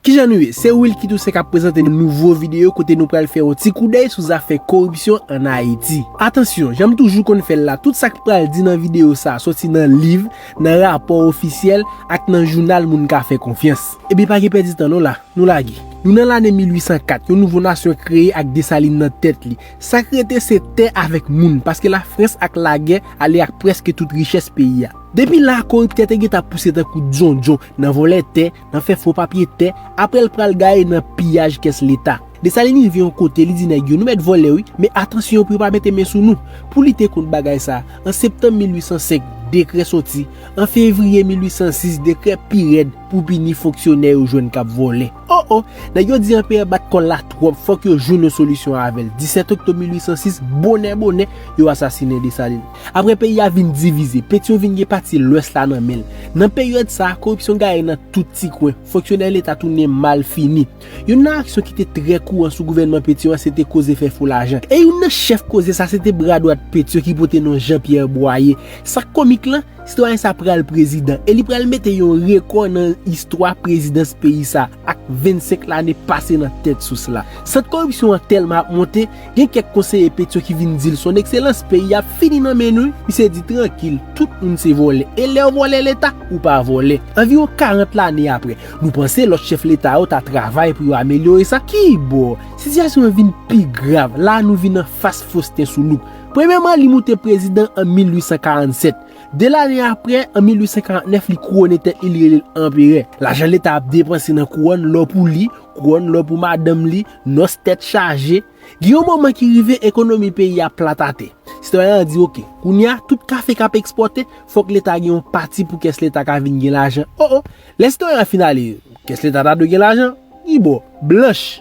Kijan nou ye? Se Wilky Toussaint kap prezante nou nouvo videyo kote nou pral fè yon ti koudèy sou zafè koripsyon an Ayiti. Atansyon, janm toujou konn fèl la, tout sak pral di nan videyo sa soti nan liv, nan rapò ofisyèl, ak nan jounal moun ka fè konfyans. Ebyen pa gen pèdi tan non la, nou lage. Nou nan lane 1804, yon nouvo nasyon kreye ak Desalin nan tèt li. Sak rete se tè avèk moun, paske Lafrans ak lagè ale ak prèske tout richès peyi a. Depi la, koriptè te gentan pouse tankou djondjon nan vòlè tè, nan fè fo papye tè, aprè l pral gaye nan piyaj kès leta. Desalin rive yon kote li di nèg yo nou mèt vòlè wi, men atansyon pou yo pa mete men sou nou. Pou lite kont bagay sa, an septanm 1805, dekrè soti, an fevriye 1806 dekrè pi rèd pou pini fonksyonè yo jwenn k ap vòlè. O o! Nèg yo di anperè bat kò l la twòp, fòk yo jwenn yon solisyon avè l. 17 oktob 1806, bonè bonè, yo asasinen Desalin. Apre peyi a vin divize, Petion vin gen pati lwès la nan men l. Nan peryòd sa a, koripsyon gaye nan tout ti kwen, fonksyonè leta tounen mal fini. Youn nan aksyon ki te trè kouran sou gouvènman Petion an se te koze fè fo lajan. E youn nan chèf koze sa se te bra dwat Petion ki pote non Jean Pierre Boyer. Sa k komik lan, sitwayen sa pral prezidan e li pral mete yon rekò nan istwa prezidans peyi sa ak 25 lane pase nan tèt sous la. Sant koripsyon an tèlman ap monte, Gen kèk konseye Pétion ki vin dil son ekselans peyi a ap fini nan men nou wi, misye di trankil tout moun se vòlè e lèw vòlè leta ou pa vòlè. Anviwon 40 lane aprè, nou panse lòt chèf leta yo ta travay pou yo amelyore sa? Kibò? Sitiyasyon an vin pi grav, la nou vin anfas Faustin Soulouque. Premyèman li moute prezidan an 1847, 2 lane aprè an 1849 li kouwone tèt li li relel anperè. Lajan leta ap depanse nan kouwòn lò pou li, kouwòn lò pou madanm li, Nos tèt chaje, gen yon moman ki rive ekonomi peyi a plat ate. Sitwayen an di ok, kounye a tout kafe kap ekspòte fòk leta gen yon pati pou kès leta ka vin gen lajan. O o, lè sitwayen an fin ale, kès leta ta dwe gen lajan? Ki bo, blanch.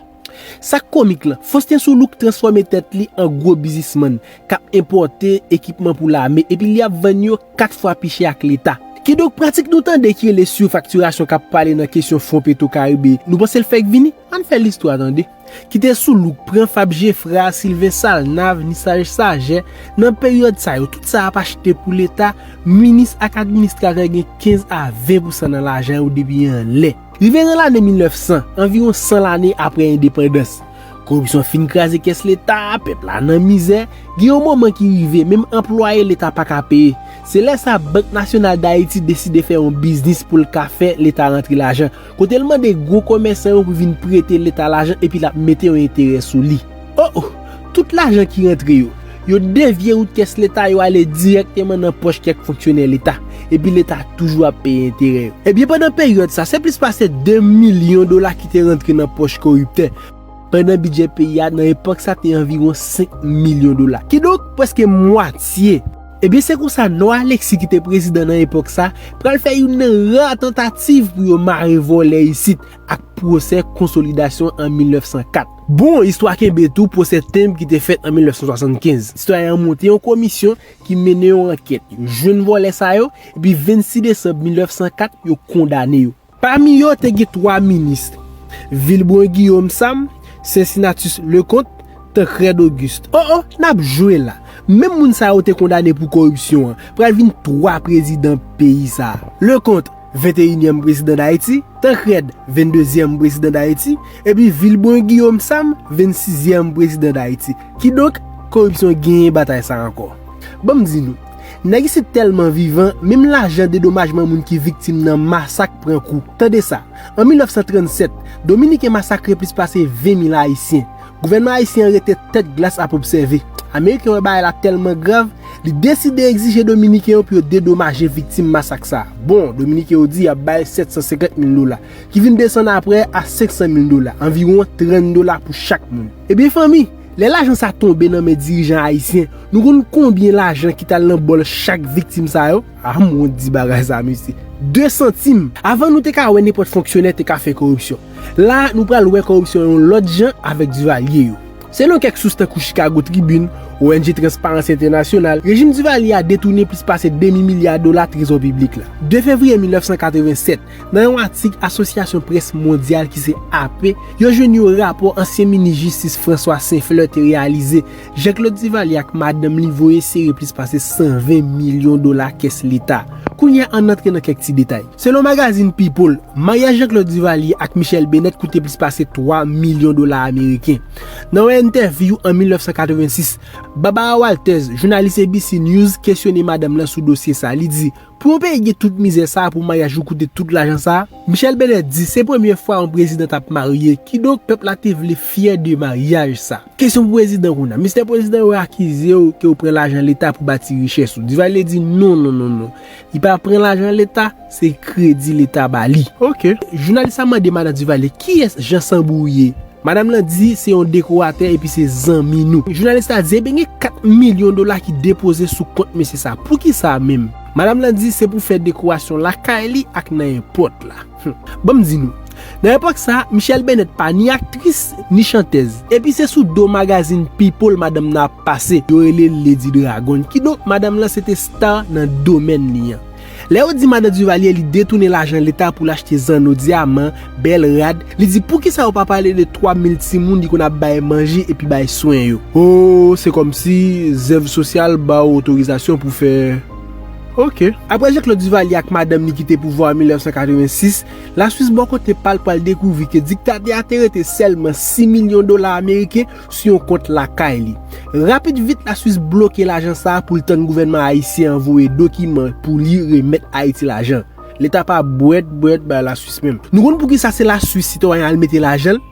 Sak komik lan, Faustin Soulouque transfòme tèt li an gwo bizismann kap enpòte ekipman pou lame epi li ap vann yo 4 fwa pi chè ak leta. Kidonk pratik nou tande ki rele surfacturation kap pale nan kesyon fon petro karibe, nou panse l fèk vini? Ann fè listwa tande. Kite soulouk pran fab jefra, silven salnav, nisaj sajè, nan peryòd sa yo tout sa ap achte pou leta, minis ak administratè gen 15 a 20 pousan nan lajan yo depi anlè. Rive nan lane 1900, anviwon 100 lane aprè endepandans, koripsyon fin kraze kès leta, pèp la nan mizè, gen yon moman ki rive menm anplwaye leta pa ka peye, se lè sa bank nasyonal dayiti deside fè yon biznis pou l ka fè leta rantre lajan, Kote l mande gwo komèsan yo pou vin prete leta lajan epi l ap mete yon enterè sou li. O o! Tout lajan ki rantre yo, yo devye wout kès leta yo ale dirèkteman nan pòch kèk fonksyonè leta, epi leta toujou ap peye enterè yo. Ebyen pandan peryòd sa, se plis pase 2 milyon dola ki te rantre nan pòch koriptè, pandan bidjè peyi a nan epòk sa te anviwon 5 milyon dola. Kidonk, prèske mwatye. Ebyen se konsa Nò Aleksi ki te prezidan nan epòk sa pral fè youn nan ra tantativ pou yo mare vòlè isit ak pwosè konsolidasyon an 1904. Bon istwa kenbe tou pwosè tenb ki te fèt an 1975. Sitwayen an monte yon komisyon ki mennen yon ankèt, yo jwenn vòlè sa yo, epi 26 desanm 1904 yo kondane yo. Pami yo te gen twa minis, Vilbrun Guillaume Sam, Cincinnatus Leconte, Tancrède Auguste. O o, n ap jwe la! Menm moun sa yo te kondane pou koripsyon an, pral vin twa prezidan peyi sa a. Leconte, venteyinyèm prezidan Dayiti, Tancrède, vendezyèm prezidan Dayiti, epi Vilbrun Guillaume Sam, vensizyèm prezidan Dayiti. Kidonk, koripsyon genyen batay sa ankò. Ban m di nou. Nèg isit tèlman vivan, menm lajan dedomajman moun ki viktim nan masak pran kou. Tande sa, An 1937, Dominiken masakre plis pase 20 mil Ayisyen. Gouvènman Ayisyen an rete tèt glas ap obsève. Ameriken wè bagay la tèlman grav, li deside egzije Dominiken yo pou yo dedomaje viktim masak sa. Bon, Dominiken yo di y ap bay 750 mil dola, ki vin desann apre a 500 mil dola, anviwon 30 dola pou chak moun. Ebyen fanmi! Lè lajan sa tonbe nan men dirijan ayisyen, nou konn konbyen lajan ki t al nan bòl chak viktim sa yo? Ah m wont di bagay sa mesye. 2 santim! Avan nou te ka wè nenpòt fonksyonè te ka fè koripsyon. La a nou pral wè koripsyon yon lòt jan avèk Duvalier yo. Selon kèk sous tankou Chicago Tribune, ong Transparency International, rejim Duvalier a detounen plis pase demi milya dola trezò piblik la. 2 fevriye 1987, Nan yon atik Asosyasyon Près Mondyal ki se AP, yo jwenn yon rapò ansyen minis jistis François Saint-Fleur te reyalize, Jean Claude Duvalier ak madanm li voye sere plis pase 120 milyon dola kès leta. Kounye a ann antre nan kèk ti detay. Selon magazin People, maryaj Jean Claude Duvalier ak Michelle Bennett koute plis pase 3 milyon dola ameriken. Nan yon entèvyou an 1986, Barbara Walters, jounalis ABC News, kesyone madanm lan sou dosye sa, li di, Pou yon peyi gen tout mizè sa pou maryaj yo koute tout lajan sa, Michèle Benè di se premye fwa yon prezidan tap marye kidonk pèp la te vle fyè de maryaj sa. Kesyon pou prezidan kounya, Mistè prezidan yo akizew ke ou pran lajan leta pou bati richès ou, Duvalier di non non non non li pa pran lajan leta se kredi leta bali. Ok. Jounalis la mande madan Duvalier kiyès Jan Sanbou ye? Madam lan di se yon dekoratè epi se zanmi nou. Jounalis la di ebyen gen 4 milyon dola ki depoze sou kont mesye sa. Poukisa menm? Madam lan di se pou fè dekorasyon lakay li ak nan èpòt la. Humm. Banm di nou. Nan epòk sa, Michèle Bennett pa ni aktris, ni chantèz. Epi se sou do magazin People madanm nan ap pase. Yo rele l Lady Dragon. Kidonk, madam lan se te star nan domèn li an. Lè yo di madan Duvalier li detounen lajan leta pou l achte zanno, dyaman, bèl rad, li di poukisa yo pa pale de 3 mil timoun li konn ap bay manje epi bay swen yo. Oo se kòmsi zèv sosyal ba w otorizasyon pou w fè ok. Aprè Jean Claude Duvalier ak madanm li kite pouvwa an 1986, Laswis bò kote pa l pral dekouvri ke diktatè a te rete sèlman 6 milyon dola ameriken sou yon kont lakay li. Rapid vit la Swis bloke lajan sa a pou l tann gouvènman ayisyen an voye dokiman pou li remèt Ayiti lajan. Leta pa bwèt bwèt bay la Swis menm. Nou konn poukisa se la Swis sitwayen al mete lajan l?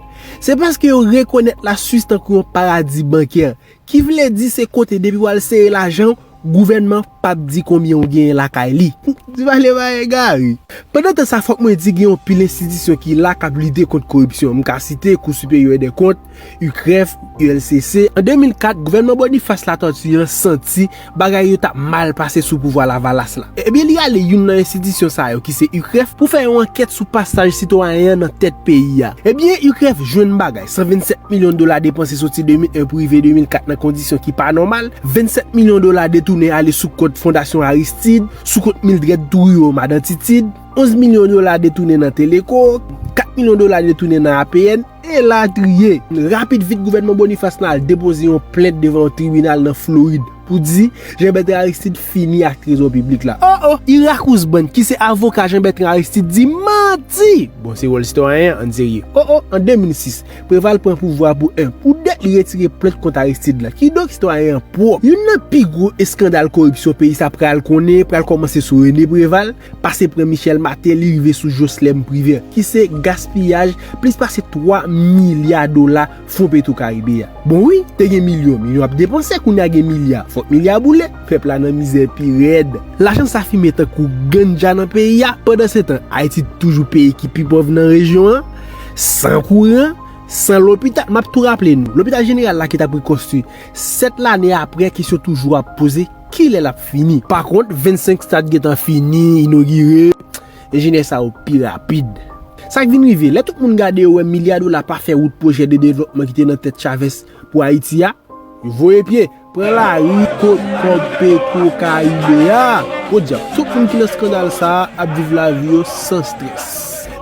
Se paske yo rekonèt la Swis tankou yon paradi bankè. Ki vle di se kote depi w al sere lajan w, Gouvènman pap di konbyen ou genyen lakay li. Di pale pa egare. Pandan tan sa fòk mwen di gen yon pil enstitisyon ki la kap lite kont koripsyon. M ka site Kou Siperyè dè Kont, UCREF, ULCC. An 2004, gouvènman Boniface Latortue an santi bagay yo tap mal pase sou pouvwa Lavalas la. Ebyen li ale youn nan enstitisyon sa yo ki se UCREF pou fè yon ankèt sou pasaj sitwayen an nan tèt peyi a. Ebyen UCREF jwenn bagay. 127 milyon dola depanse soti 2001 pou rive 2004 nan kondisyon ki pa nòmal, 27 milyon dola detounen ale sou kont Fondasyon Aristide, sou kont Mildred Trouillot, Madan Titid, 11 milyon dola detounen nan Teleco, 4 milyon dola detounen nan APN, elatriye. Rapid vit gouvènman Boniface lan al depoze yon plent devan yon tribinal nan Florid. Pou di, Jean Bertrand Aristide fini ak trezò piblik la. O o! Irak Ousband, ki se avoka Jean Bertrand Aristide di manti! Bon, se wòl sitwayen an, ann serye. O o! An 2006, Preval pran pouvwa pou 1. Pou 2, li retire plent kont Aristide la. Kidonk, sitwayen an pwòp. Youn nan pi gwo eskandal koripsyon peyi sa pral konnen, pral kòmanse sou René Preval. pase pran Michel Martelly rive sou Jocelerme Privert ki se gaspiyaj plis pase 3 milya dola fon petro karibe a. Bon wi, te gen milyon, milyon ap depanse, kounye a gen milya, fòk milya boule, pèp la nan mizè pi rèd. Lajan sa fimen tankou ganja nan peyi a, pandansetan Ayiti toujou peyi ki pi pòv nan rejyon an, san kouran, san lopital, m ap tou raple nou, lopital jeneral la ki t ap rekonstwi 7 lane aprè kesyon toujou ap poze, Kilè lap fini? Pa kont 25 stad gentan fini, inogire, enjenyè sa yo pi rapid. Sa k vin rive? Lè tout moun gade yo wè milya dola pa fè wout pwojè de devlòpman ki te nan tèt Chavez pou Ayiti a, yo voye pye, pran lari kot kòb petwo karibe a, podyab, tout moun ki nan skandal sa a ap viv lavi yo san strès.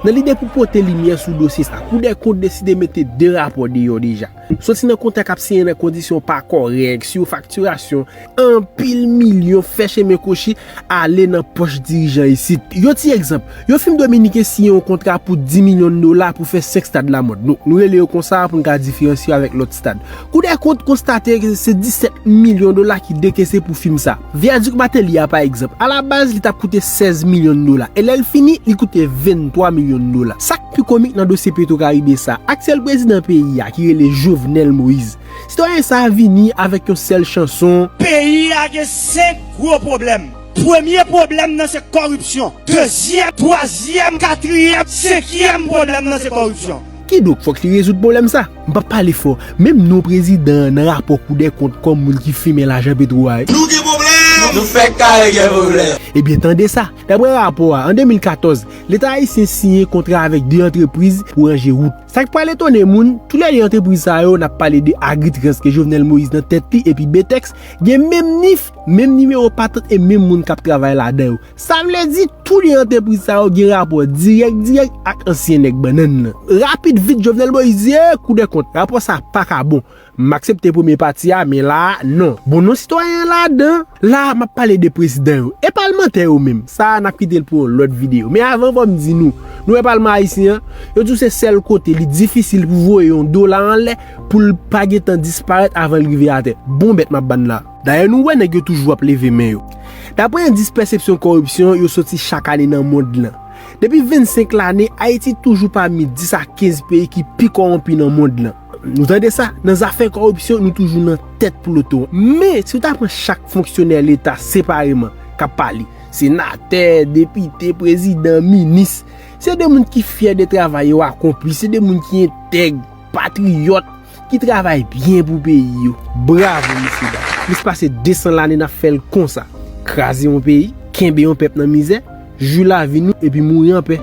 Nan lide pou pote limyè sou dosye sa a, Koudèkont deside mete 2 rapò deyò deja. Soti nan kontak ap siyen nan kondisyon pa kòrèk, siyo faktirasyon, anpil milyon fè chemen kwochi ale nan pòch dirijan isit. Yon ti egzanp, yon fim dominiken siyen yon kontra pou 10 milyon dola pou fè 5 stad lamòd. Nou rele yo konsa pou n ka diferansye yo avèk lòt stad. Koudèkont konstate se 17 milyon dola ki dekese pou fim sa. Vyadik Mateli a pa egzanp, alabaz li t ap koute 16 milyon dola e lè l fini, li koute 23 milyon dola. Sa. Pi komik nan dosye petro karibe sa, aktyèl prezidan peyi a ki rele Jovenel Moise. Sitwayen sa vini avèk yon sèl chanson. Peyi a gen 5 gwo pwoblèm. Premye pwoblèm nan se kòripsyon. Dezyèm, twazyèm, katriyèm, senkyèm pwoblèm nan se kòripsyon. Kidonk fòk li rezoud pwoblèm sa. M pap pale fò, menm non prezidan an nan rapò koudèkont kòm moun ki fimen lajan petro a. Nou gen pwoblèm! Nou fèk kare gen pwoblèm! Ebyen tande sa. Daprè rapò a, an 2014, Leta ayisyen siyen kontra avèk 2 antrepriz pou ranje wout. Sa k pral etone moun, tou lè 2 antrepriz sa yo, n ap pale de Agritrans ke Jovenel Moïse nan tèt li epi Betex, gen menm nif, menm nimewo patant e menm moun k ap travay ladan yo. Sa vle di, tou 2 antrepriz sa yo gen rapò dirèk dirèk ak ansyen nèg bannann nan. Rapid vit, Jovenel Moïse di, ee, Kou dè kont, rapò sa a pa ka bon. M aksepte premye pati a men la a non. Bon non sitwayen an ladan? La a map pale de prezidan yo. E palmantè yo menm? Sa a nap kite l pou yon lòt videyo. Men avan fò m di nou, nou wè palman ayisyen an? Yo di w se sèl kote li difisil pou voye yon dola anlè pou l pa gen tan disparèt avan l rive atè. Bon bèt map ban n la. Dayè nou wè nèg yo toujou ap leve men yo. Daprè endis pèsepsyon kòripsyon yo soti chak ane nan mond lan. Depi 25 lane, Ayiti toujou pami 10 a 15 peyi ki pi kòwonpi nan mond lan. Nou tande sa, nan zafè kòripsyon nou toujou nan tèt ploton. Men, si w ta pran chak fonksyonè leta separeman k ap pale, senatè, depite, prezidan, minis, se de moun ki fyè de travay yo akonpli, se de moun ki entèg, patriyòt, ki travay byen pou peyi yo. Bravo mesye dam! Plis pase 200 lane n ap fè l konsa, kraze yon peyi, kenbe yon pèp nan mizè, jwi lavi nou epi mouri anpè.